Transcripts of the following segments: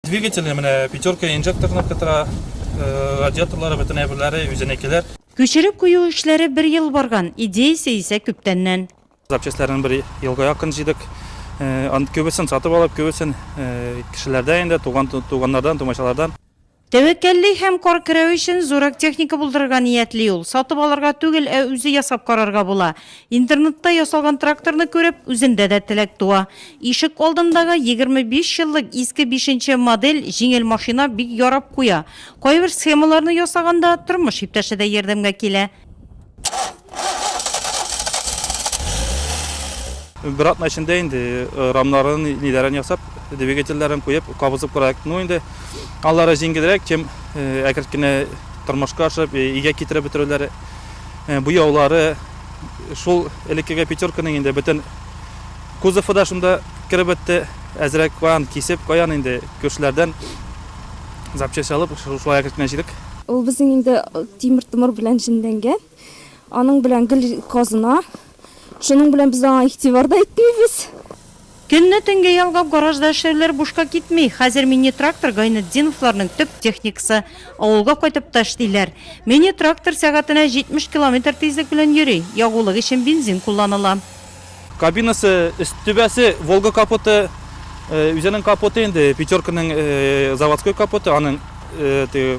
Двигателе менә пятерка инжекторны кытыра, э, радиаторлары бөтенләй берләре үзенекеләр. Күчереп кую эшләре бер ел барган, идеясе исә күптәннән. Запчастларын бер елга якын җыйдык. Э, ан- Күбесен сатып алып, күбесен э, кешеләрдән инде, туган туганнардан, тумачалардан. Тәвәккәлли һәм кар керәү өчен зуррак техника булдырырга ниятли ул. Сатып алырга түгел, ә үзе ясап карарга була. Интернетта ясалган тракторны күреп, үземдә дә теләк туа. Ишек алдындагы 25 еллык иске бишенче модель җиңел машина бик ярап куя. Кайбер схемаларны ясаганда, тормыш иптәше дә ярдәмгә килә. Бер атна эчендә инде рамнарын, ниләрен ясап, двигательләрен куеп, кабызып кырак. Ну инде алары җиңелрәк, чем әкрен генә тормышка ашып, өйгә китереп бетерүләре. буяулары, шул элеккеге пятерканың инде бөтен кузовы да шунда кереп бетте. Әзрәк каян кисеп, каян инде күршеләрдән запчасть алып, шулай әкрен генә җыйдык. Ул безнең инде тимер-томыр белән җенләнгән. Аның белән гел казына. Шуның белән без аңа игътибар да итмибез. Көнне төнгә ялгап гаражда эшләүләр бушка китми. Хәзер мини-трактор Гайнетдиновларның төп техникасы. Авылга кайтып та эшлиләр. Мини-трактор сәгатенә 70 километр тизлек белән йөри. Ягулык өчен бензин кулланыла. Кабинасы, өст түбәсе, Волга капоты, үзенең капоты инде, Пятерканың заводской капоты, аның теге.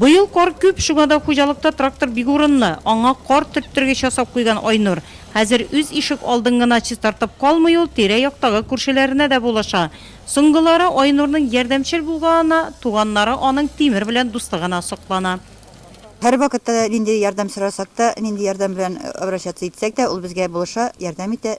Быел кар күп, шуңа да хуҗалыкта трактор бик урынлы. Аңа кар төрттергеч ясап куйган Айнур. Хәзер үз ишек алдын гына чистартып калмый ул, тирә-яктагы күршеләренә дә булыша. Соңгылары Айнурның ярдәмчел булганына туганнары аның тимер белән дуслыгына соклана. Һәрвакытта да нинди ярдәм сорасак та, нинди ярдәм белән обращаться итсәк тә, ул безгә булыша, ярдәм итә.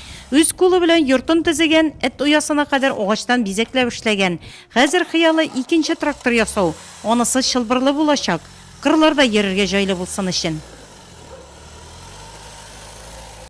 Үз кулы белән йортын төзегән, эт оясына кадәр агачтан бизәкләп эшләгән. Хәзер хыялы, икенче трактор ясау. Анысы чылбырлы булачак. Кырларда йөрергә җайлы булсын өчен.